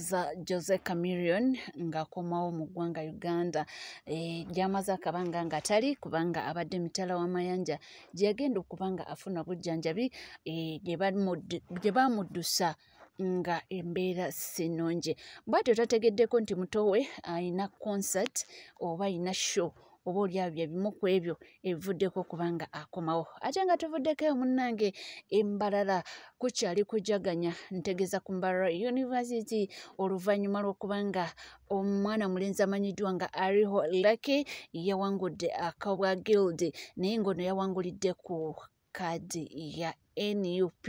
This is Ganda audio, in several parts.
za jose camerion ng'akomawo mu ggwanga uganda e, gy'amaze akabanga ng'atali kubanga abadde mitala w'amayanja gye yagenda okuba nga afuna obujjanjabi eh, gye baamuddusa nga embeera si nnungi bwatyo tategeddeko nti muto we alina concert oba alina show oba olyawo bye bimu ku ebyo ebivuddeko okuba nga akomawo ate nga tuvuddeko eyo munnange embalala kukyali kujaganya ntegeza ku mbalala university oluvannyuma lw'okuba nga omwana mulenzi amanyiddwa nga ariho lucky yawangudde akabwa guild naye ng'ono yawangulidde ku kaadi ya nup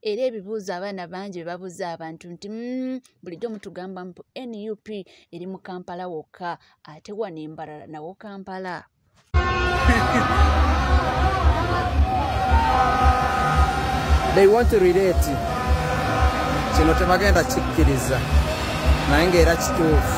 era ebibuuzo abaana bangi bebabuuza abantu nti mm, bulijjo mutugamba mpu nup eri mu kampala wokka ate wano embarala nawo kampala they want to relate kino tebagenda kikkiriza naye ngaera kituufu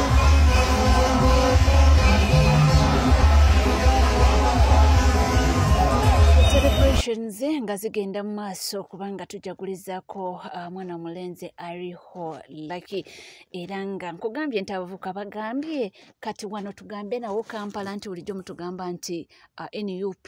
celebrations nga zigenda mu maaso kubanga tujagulizaako uh, mwana omulenzi ariho laki era nga nkugambye nti abavuka bagambye kati wano tugambe nawo kampala nti bulijjo mutugamba nti uh, nup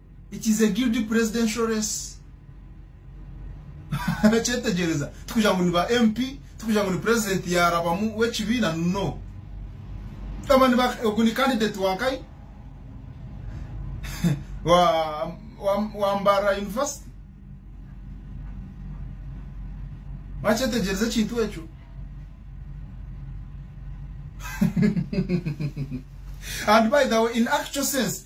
it is a guilty presidential race kyetegereza tukugira ngu ni ba mp tukugira ngu ni president yarabamu w'ekibiina no kama ni ba- ogu ni candidate wankai wa, wa, wa mbara university bakyetegereza ekintu ekyo and by the way in actual sense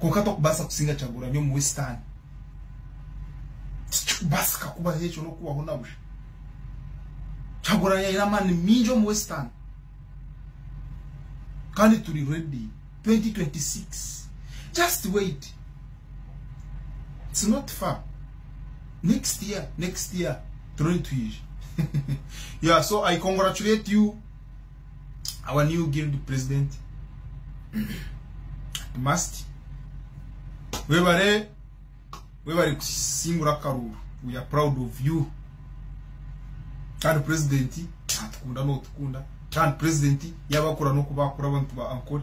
konka tokubasa kusinga kyagura nyo mu western tikikubasa kakuba ekyo nokubaho nabusha kyaguranya yina amani mingi omu western kandi turi ready 2026 just wait it's not far next year next year turoni twije yeah so i congratulate you our new guild president must webare webare kusingura karuru we are proud of you kandi president atukunda no tukunda kandi president yabakura no kubakura abantu ba ankore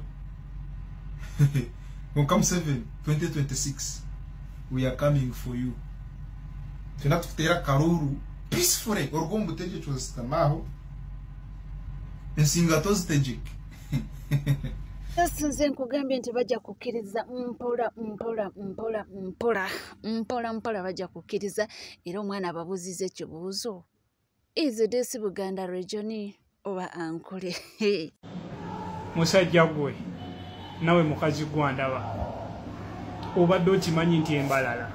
Welcome 7 2026 we are coming for you tena tukutera karuru peacefully orwo mbuteje cyose tamaho ensinga tozitegek nze nkugambye nti bajja kukkiriza mpola mpola mpola mpola mpola mpola bajja kukkiriza era omwana ababuuziza ekibuuzo izi desi buganda regioni oba ankule musajja gwe nawe mukazi gwandaba obadde okimanyi nti embalala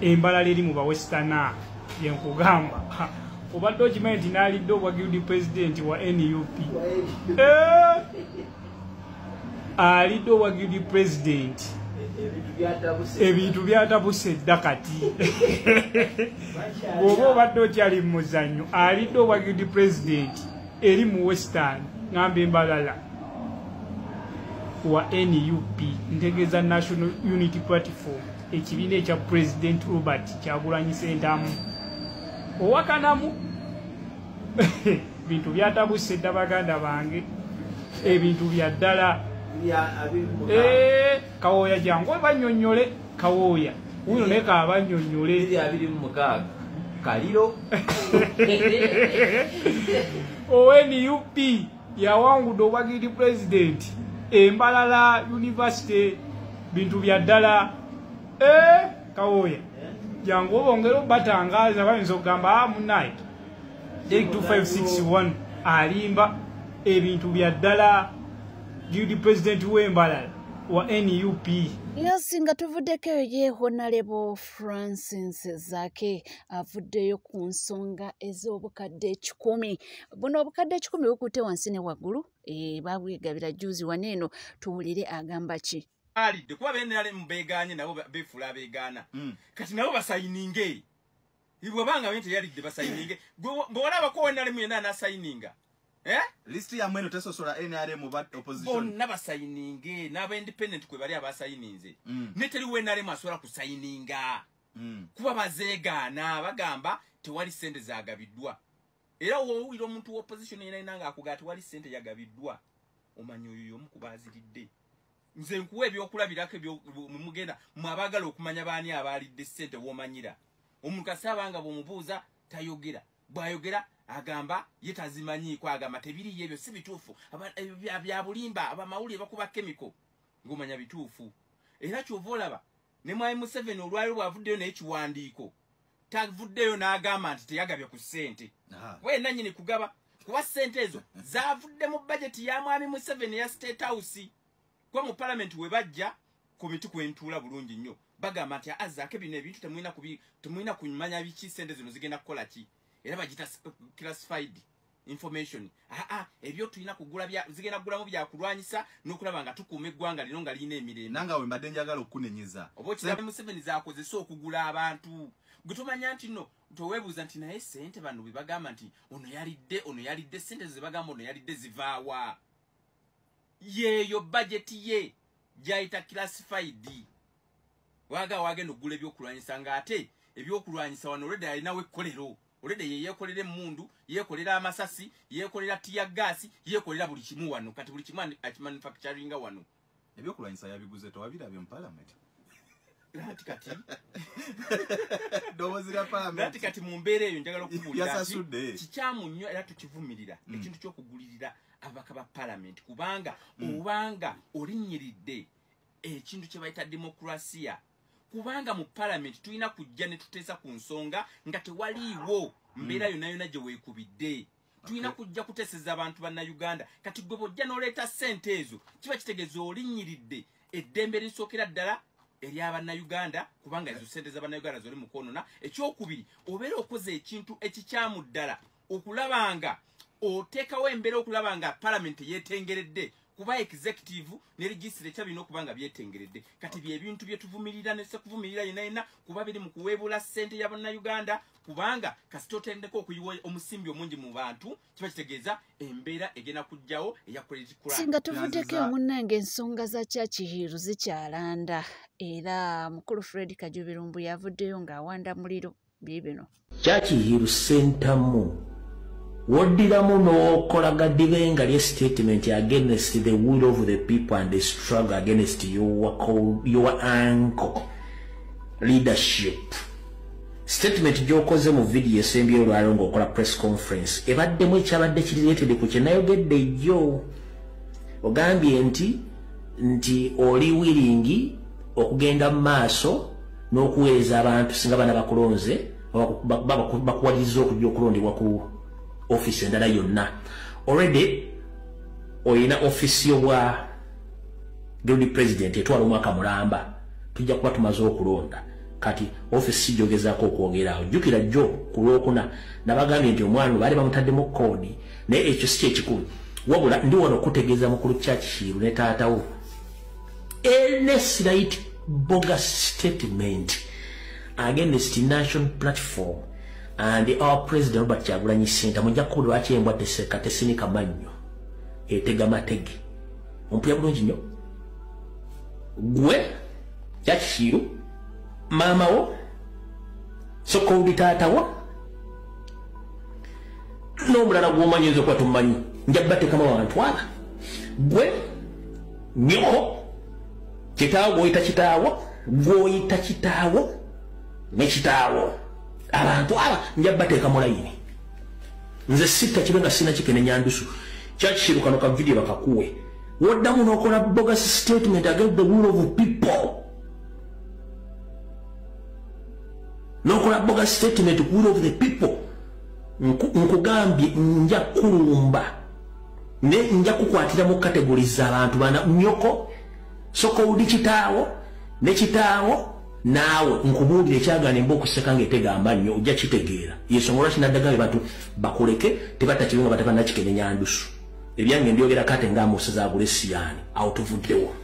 embalala eri mu bawesitana yenkugamba obadde okimanyi nti nalidde obwa guild president wa nup eh! alidde obwa guild president ebintu byatabuse edda kati oba obadde okyali mu muzanyo alidde obwa guild president eri mu western ngamba embalala wa nup ntegeeza national unity platform ekibiina ekya president robert kyagulanyi sentamu owakanamu bintu byatabuse dda baganda bange ebintu bya ddala eh, kawoya jangu obanyonyole kawooya uno naye kabanyonyole eri abiri mu mukaaga kaliro onup yawangudde obwagiriti pulezidenti embalala univesity bintu bya ddala eh, kawooya eh? jangu obongera obatangaaza bayinza okugamba ah, munaye 2561 alimba ebintu bya ddala guildi president wembala wa nup yes nga tuvuddeko eyo ye honalebo francis zake avuddeyo ku nsonga ez'obukadde ekikumi buno obukadde ekikumi bukutte wansi ne waggulu e, babwegabira juzi wano eno tuwulire agamba ki alidde kuba benrm begaanye nabo befuula abegaana mm. kati nabo basayininge ibwabanga bente yalidde basayininge bwona bakowa nalemu yena anasayininga eh? list ya mweno tesosola nrm ba opposition bonna basayininge n'aba independent kwe bali abasayininze mm. neteri we nrm asobola kusayininga mm. kuba bazeegaana bagamba tewali sente zagabiddwa era wowulira omuntu wa opposition yena yena nga akuga tewali sente yagabiddwa omanyi oyo yomu kuba aziridde nze nkuwa ebyokulabirako mumugenda mwe abaagala okumanya baani abaalidde ssente womanyira omuntu asaaba nga bwomubuuza tayogera bwayogera agamba ye tazimanyiiko agamba tebiriyo ebyo si bituufu byabulimba abamawulire bakuba kemiko ngomanya bituufu era kyova olaba ne mwami museveni olwaliro bwavuddeyo naye kiwandiiko tavuddeyo n'agamba nti teyagabye ku ssente kuba yenna nyini kugaba kuba ssente ezo zavudde mu bajeti ya mwami museveni eya state house kuba mu palamenti we bajja ku mitu kwentuula bulungi nnyo bagamba nti azaako bino ebintu temulina kumanya biki ssente zino zigenda kukola ki era bagita classified information aa ebyo tulina kugula bya zigenda kugulamu bya kulwanyisa nokulaba nga tukuuma eggwanga lino nga lirina emirembe nanga we mbadde njagala okukunenyeza oba okiraba museveni zakozesa okugula abantu gwe tomanya nti no towebuuza nti naye sente bano bwe bagamba nti ono yalidde ono yalidde sente ze bagamba ono yalidde zivaawa yeeyo bajeti ye gyayita classified waga wagenda okugula ebyokulwanyisa nga ate ebyokulwanyisa wano olwedde alinawo ekkolero olede yeyekolera emundu yekolera amasasi yekolera tiya gasi yekolera buli kimu wano kati buli kimu akimanufacturinga wano ebyokulwanyisa yabiguze tewabirabye mu palamenti lati kati dobozi lya palamenti lati kati mu mbeera eyo njagala okubulira yasasudde kikyamu nnyo era tukivumirira mm. ekintu ky'okugulirira ababaka ba palamenti kubanga mm. obanga olinnyiridde ekintu kye bayita demokrasiya kubanga mu palamenti tulina kujja ne tuteesa ku nsonga nga tewaliiwo mbeera hmm. yonna yonna gye weekubidde tulina kujja kuteeseza abantu bannayuganda kati gwe bwojja n'oleeta ssente ezo kiba kitegeeza olinnyiridde eddembe erisookera ddala erya bannayuganda kubanga ezo ssente za bannayuganda zoli mukwonona ekyokubiri obeera okoze ekintu ekikyamu ddala okulaba nga oteekawo embeera okulaba nga palamenti yetengeredde kuba executive ne registre ekya birina okuba nga byetengeredde kati byebintu byetuvumirira nesekuvumirira yena yena kuba biri mu kuweebula ssente ya bannayuganda kubanga kasita otendeka okuyiwa omusimbi omungi mu bantu kiba kitegeeza embeera egenda kujjawo eya singa tuvuddeko omunnange ensonga za kyakihiiru zikyalanda era mukulu fred kajubirumbu yavuddeyo ng'awanda muliro bibino kyakiyiru sentamu woddiramu n'okola gadibenga lye statement against the will of the people and the struggle against your, your uncle leadership statement gyokoze mu vidiyo esembye olwalo ngaokola press conference ebaddemu ekyabadde kiriretede ku kyenayogedde yo ogambye nti nti oli wiringi okugenda mu maaso n'okuweereza abantu singa bana bakulonze bakuwaliriza okujja okulondebwa ku ofiisi endala yonna already olina ofiisi yobwa guildi president etwala omwaka mulamba tujja kuba tumaze okulonda kati ofiisi kijogezako okwogerawo jjukira jjo ku lwokuna nabagambye nti omwana baali bamutaddemu koodi naye ekyo si kyekikulu wabula ndi wano okutegeeza mukulu kyakihiiru ne taatawo Ernest Light bogus statement against the national platform and our president Robert Kyagulanyi Ssentamu mujja kukubula lwaki embwa teseka tesinika mannyo etega matege ompuya bulungi nnyo gwe yakikiiru maama wo soka odi taata wo n'omulala gw'omanyi oyinza okuba tomumanyi njabba tekama wantwala gwe nyoko kitaawo gwoyita kitaawo gwoyita kitaawo ne kitaawo abantu aba nja bateeka mu layini nze sitta kibe nga sina kikene nyandusu kyakikiru kano ka vidiyo bakakuwe woddamu n'okola bogus statement against the will of people n'okola bogus statement ku will of the people nkugambye nja kulumba ne nja kukwatira mu category za bantu bana nyoko soko udi kitawo ne kitawo nawe nkubudi ne kyagane mbo kuseka nge tega manyo uja kitegera yeso ngora sina daga batu bakuleke tebata kibinga bataka na kikene nyandusu ebyange ndyogera kate nga musa za gulesi yani out of the world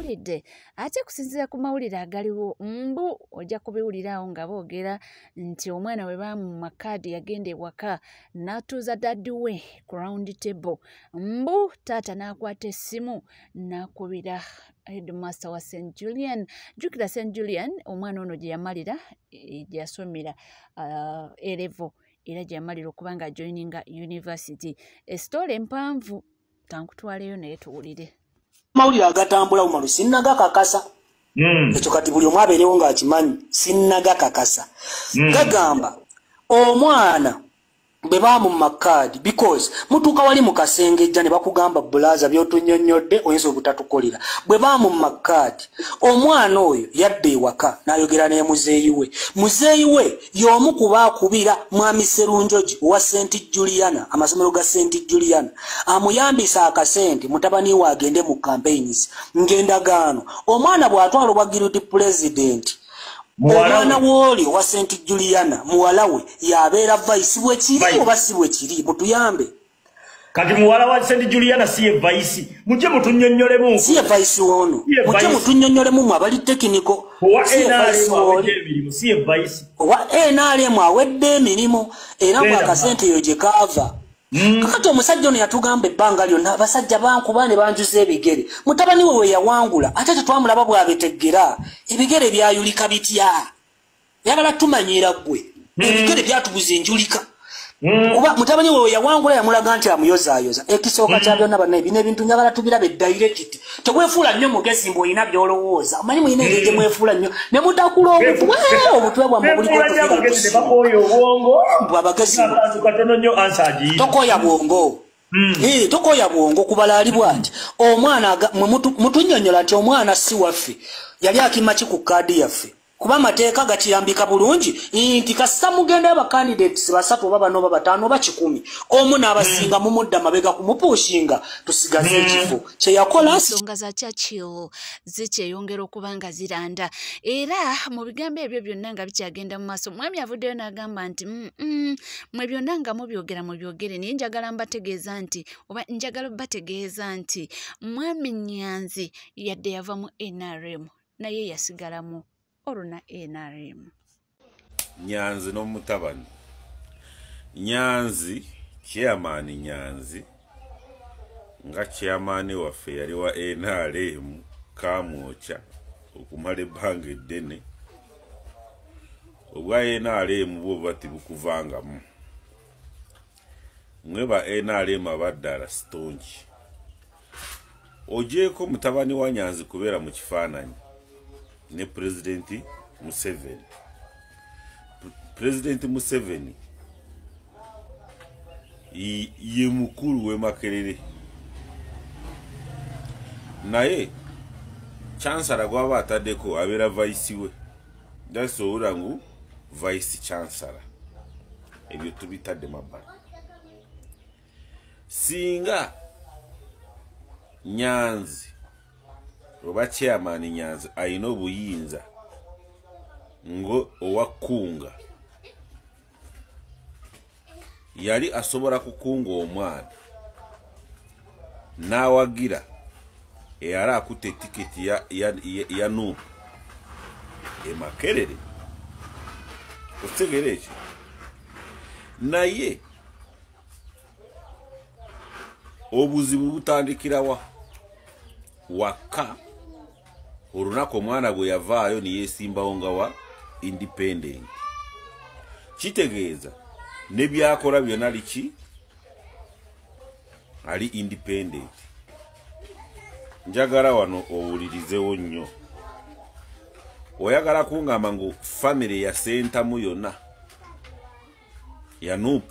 mpulidde ate kusinzira ku mawulire agaliwo mbu ojja kubiwuliraawo nga boogera nti omwana we baamuma kaadi yagenda ewaka n'atuuza daddi we ku round table mbu taata n'akwata essimu n'akubira headmaster wa st julian jjukira st julian omwana ono gye yamalira eh, gye yasomera uh, erevo era gye yamalira okuba nga joininga university esitoola empanvu kankutwaleyo naye tuwulire mawulire agatambula umaru sinnagakakasa hmm. ekyo kati buli omu abeerewo ng'akimanyi sinnagakakasa hmm. gagamba omwana bwe bamumma kaadi because mutuuka wali mu kasengejja ne bakugamba bulaaza byotunyonnyodde oyinza obutatukolera bwe bamumma kaadi omwana oyo yadda ewaka n'ayogera ne muzeeyi we muzeeyi we y'omu kuba akubira mwami serunjoji owa st juliana amasomero ga st juliana amuyambisa akasente mutabani we agende mu campaigns ng'endagaano omwana bw'atwala obwa guilty president omwana wooli owa st juliana muwala we y'abeera vaisi bwe kiri oba si bwe kiri mutuyambe kati muwala wa sendi juliana siye vaisi muje mutunyonyolemu siye vaisi wono muje mutunyonyolemu mu abali tekiniko siye vaisi owa nrm awedde emirimu era mu akasente eyo gye kaava hmm. kakati omusajja ono yatugamba ebbanga lyonna abasajja bankuba ne banjuza ebigere mutabani we weyawangula ate tetwamulaba bwabeteggera ebigere byayulika bitya yabala tumanyiira gwe mm. ebigere byatubuza enjulika mm. kuba mutabani wewe yawangula yamulaga nti amuyozayoza ekisooka kya mm. byonna banaye bino ebintu njagala tubirabe dayirekiti tewefuula nnyo mugezi mbu olina byolowooza omanyi mulina engeri gyemwefuula nnyo ne mutakula obutwe obutwe bwammwe bulikobwabagezitokoya bwongo Eh, tokoya bwongo kubala ali bwati omwana mwe mutunyonyola nti omwana si waffe yali akimaki ku kaadi yaffe kuba amateeka gakirambika bulungi nti kasita mugenda abacandidates basatu oba bano oba bataano oba kikumi omu n'abasinga hmm. mumudda mabega kumupuushinga tusigaze hmm. ekifo kyeyakola ensonga za churchill zikyeyongera okuba nga ziranda era mu bigambo ebyo byonna nga bikyagenda mu maaso mwami avuddeyo n'agamba nti mwe byonna nga mubyogera mu byogere naye njagala mbategeeza nti oba njagala bategeeza nti mwami nyanzi yadde yava mu nrm naye yasigalamu oluna nrm nyanzi n'omutabani nyanzi chairman nyanzi nga chairman waffe yali wa nrm kamwoca okumala ebbanga eddene obwa nrm bwo buba tibukuvangamu mwe ba nrm abaddala sitongi ojeeko mutabani wa nyanzi kubeera mu kifaananyi ne pulezidenti museveni pulezidenti museveni ye mukulu w'emakerere naye chansala gwaba ataddeko abeera vaisi we that's owura ngu vaisi chansala ebyo tubitadde mabbala singa nyanzi oba chairman nyanzi alina obuyinza ngo owa kunga yali asobola kukunga omwana n'awagira eyali akutte etiketi ya, ya, ya, ya nuupu emakerere okitegera ekyo naye obuzibu butandikirawa wakka olunaku omwana bwe yavaayo neyesimbawo nga wa independent kitegeeza nebyakola byona liki ali independent njagala wano owulirizewo nnyo oyagala kungamba ngu famiry yasentamu yona ya nup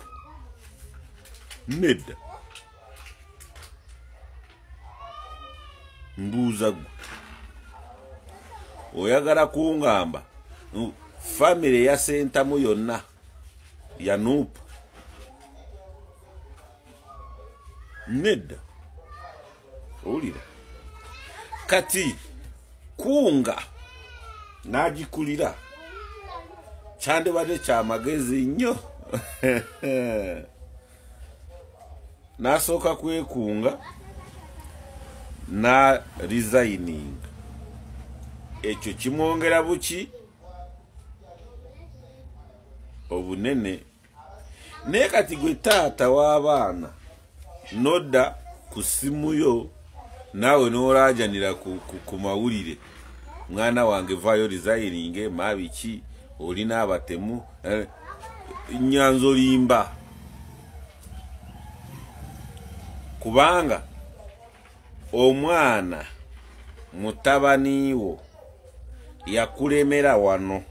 nedda mbuuza gwe oyagala kungamba famire yasentamu yonna ya nup nedda owulira kati kunga n'agikulira kyandibadde kyamagezi nnyo n'asooka kwekunga na resigning ekyo kimwongera buki obunene naye kati gwe taata w'abaana nodda ku ssimu yo naawe n'olaajanira ku mawulire mwana wange vaayo rizayiringe maabiki olina abatemu eh, nyanza olimba kubanga omwana mutabaniwo yakulemera wano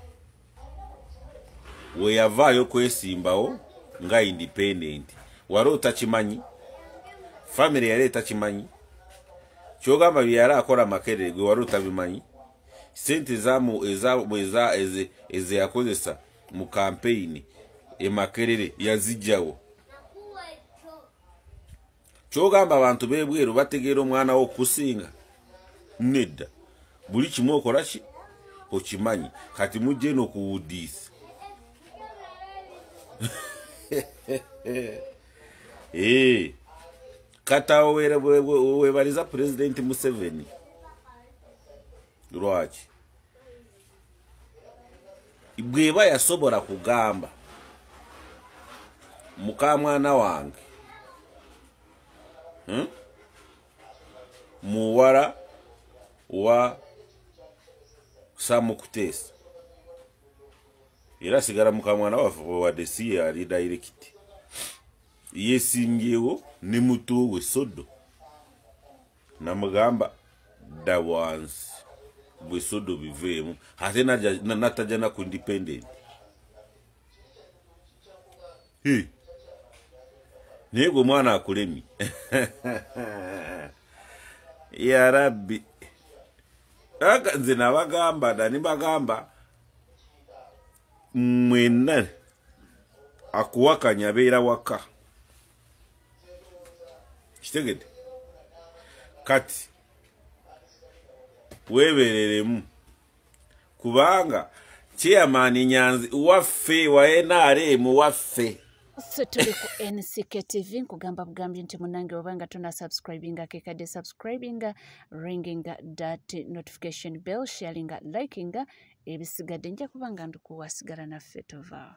weyavaayo kwesimbawo nga independent wali otakimanyi famire yali etakimanyi kyogamba byeyali akola makerere gwe wali otabimanyi sente ezeyakozesa mu kampeyini emakerere yazijjawo kyogamba abantu bebweru bategeera omwana wo okusinga nedda buli kimu okola ki okimanyi kati mujje no kuwudiisa eh, kata webaliza pulezidenti museveni lwaki bweba yasobola kugamba mukamwana wange hmm? muwala wa samukutesa era sigala mukamwana waffe wewadde si yali dayirekiti yesimbyewo ne muto we sodo namugamba dda wansi bwesodo biveemu ate natajja naku independent naye gwe omwana akulemi ya rabbi nze nabagamba dani bagamba mwena akuwakanya beera waka kitegede kati webereremu kubanga chairman nyanzi waffe wa nrm waffe so tuli ku nck tv nkugamba bugambye nti munange wabanga tuna subscribinga kekade subscribinga ringinga dat notification bell sharinga likinga ebisigadde nja kuba nga ndikuwasigala naffe tovaa